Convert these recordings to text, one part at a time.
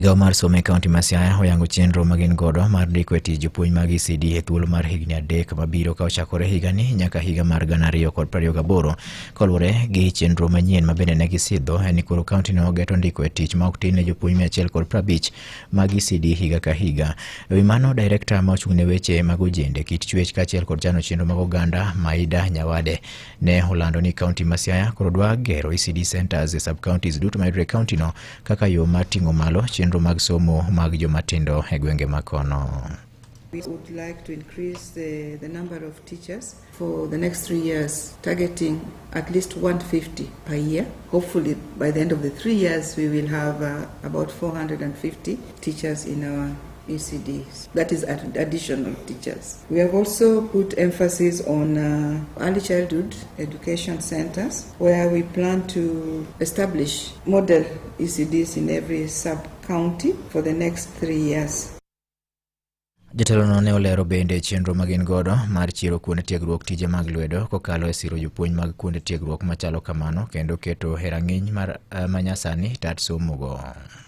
Migawo mar somo e kaunti ma Siaya oyango chenro ma gin godo mar ndiko e tich jopuonj mag ECD e thuolo mar higni adek mabiro ka ochakore higani nyaka higa mar gana ariyo kod prariyo gaboro. Kaluwore gi chenro manyien ma bende ne gisidho en ni koro kauntino ogeto ndiko e tich ma ok tin ne jopuonj mia achiel kod prabich mag ECD higa ka higa. E wi mano, direkta ma ochung' ne weche mag ojende, kit chuech kaachiel kod chano chenro mag oganda Maida Nyawade ne olando ni kaunti ma Siaya koro dwa gero ECD centres e sub-counties duto mayudore e kauntino kaka yo mar ting'o malo chenro mag somo mag jomatindo e gwenge ma kono. We would like to increase the, the number of teachers for the next three years, targeting at least 150 per year. Hopefully, by the end of the three years, we will have uh, about 450 teachers in our ECDs, that is additional teachers. We have also put emphasis on uh, early childhood education centers where we plan to establish model ECDs in every sub county for the next three years. Jatelono ne olero bende chenro ma gin godo mar chiero kuonde tiegruok tije mag lwedo kokalo e siro jopuonj mag kuonde tiegruok machalo kamano kendo keto herang'iny mar eh, manyasani tat somogo.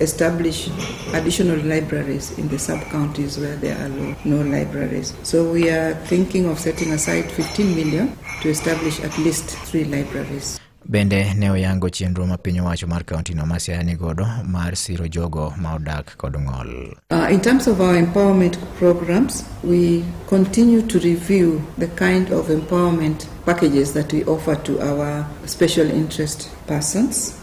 establish additional libraries in the sub counties where there are low, no libraries. So we are thinking of setting aside 15 million to establish at least three libraries. Bende ne oyango chenro ma piny owacho mar kaunti no masiaya ni godo mar siro jogo ma odak kod ng'ol. Uh, in terms of our empowerment programs, we continue to review the kind of empowerment packages that we offer to our special interest persons.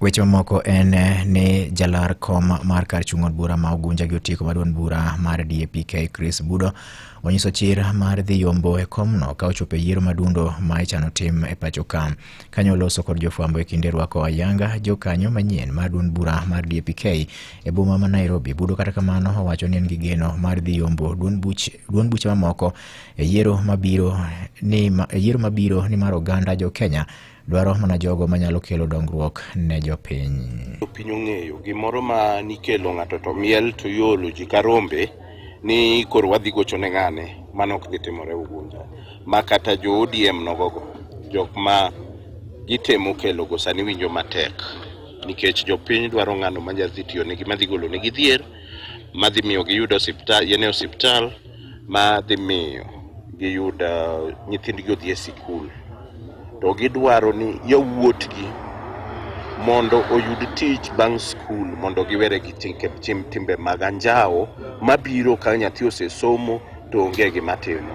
Weche mamoko en ni jalar kom mar kar chung' od bura ma Ugunja gi otieko maduond bura mar DAPK Chris Budo onyiso chir mar dhi yombo e komno ka ochopo e yiero madundo ma ichano tim e pacho ka. Kanye oloso kod jofwambo e kinde rwako ayanga jokanyo manyien mar duond bura mar DAPK e boma ma Nairobi. Budo kata kamano owacho ni en gi geno mar dhi yombo duond buch duond buche mamoko e yiero mabiro ni ma, e yiero mabiro ni mar oganda jo Kenya dwaro mana jogo manyalo kelo dongruok ne jopiny. Jopiny ong'eyo gimoro ma nikelo ng'ato to miel to iolo ji ka rombe ni koro wadhi gocho ne ng'ane, mano ok dhi timore Ugunja. Ma kata jo ODM nogogo, jok ma gitemo kelogo sani winjo matek nikech jopiny dwaro ng'ano ma nyadhi tiyo negi, madhi golo negi dhier, madhi miyo giyud osiptal, yene osiptal. ma dhi miyo giyud uh, nyithindgi odhi e sikul to gidwaro ni yawuotgi mondo oyud tich bang' skul mondo giwere gi timbe mag anjawo mabiro ka nyathi osesomo to onge gima timo.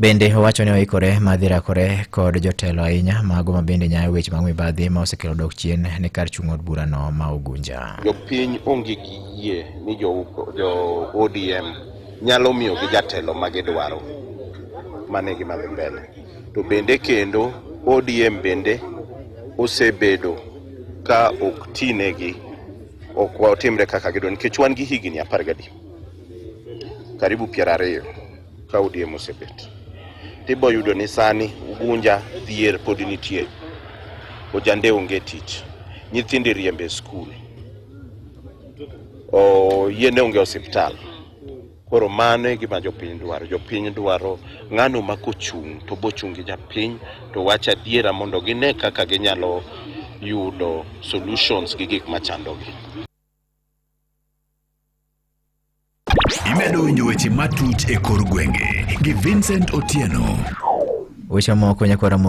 Bende owacho ni oikore ma dhi rakore kod jotelo ahinya mago ma bende nyayo weche mag mibadhi ma osekelo dok chien ne kar chung' od burano ma Ugunja. Jopiny onge gi yie ni jo, jo ODM nyalo miyogi jatelo ma gidwaro. Mano e gima dhi mbele. To bende kendo ODM bende osebedo ka ok tinegi, ok otimre kaka gidwaro nikech wan gi higni apar gadi. karibu piero ariyo ka ODM osebet tibo yudo ni sani Ugunja dhier pod nitie ojande onge tich nyithindi riembe skul yiene onge osiptal koro mano e gima jopiny dwaro jopiny dwaro ng'ano ma kochung' to bochung' gi japiny to wach adiera mondo gine kaka ginyalo yudo solutions gi gik machandogi Imedo winjo weche matut e kor gwenge gi Vincent Otieno. Weche moko nyakwara moko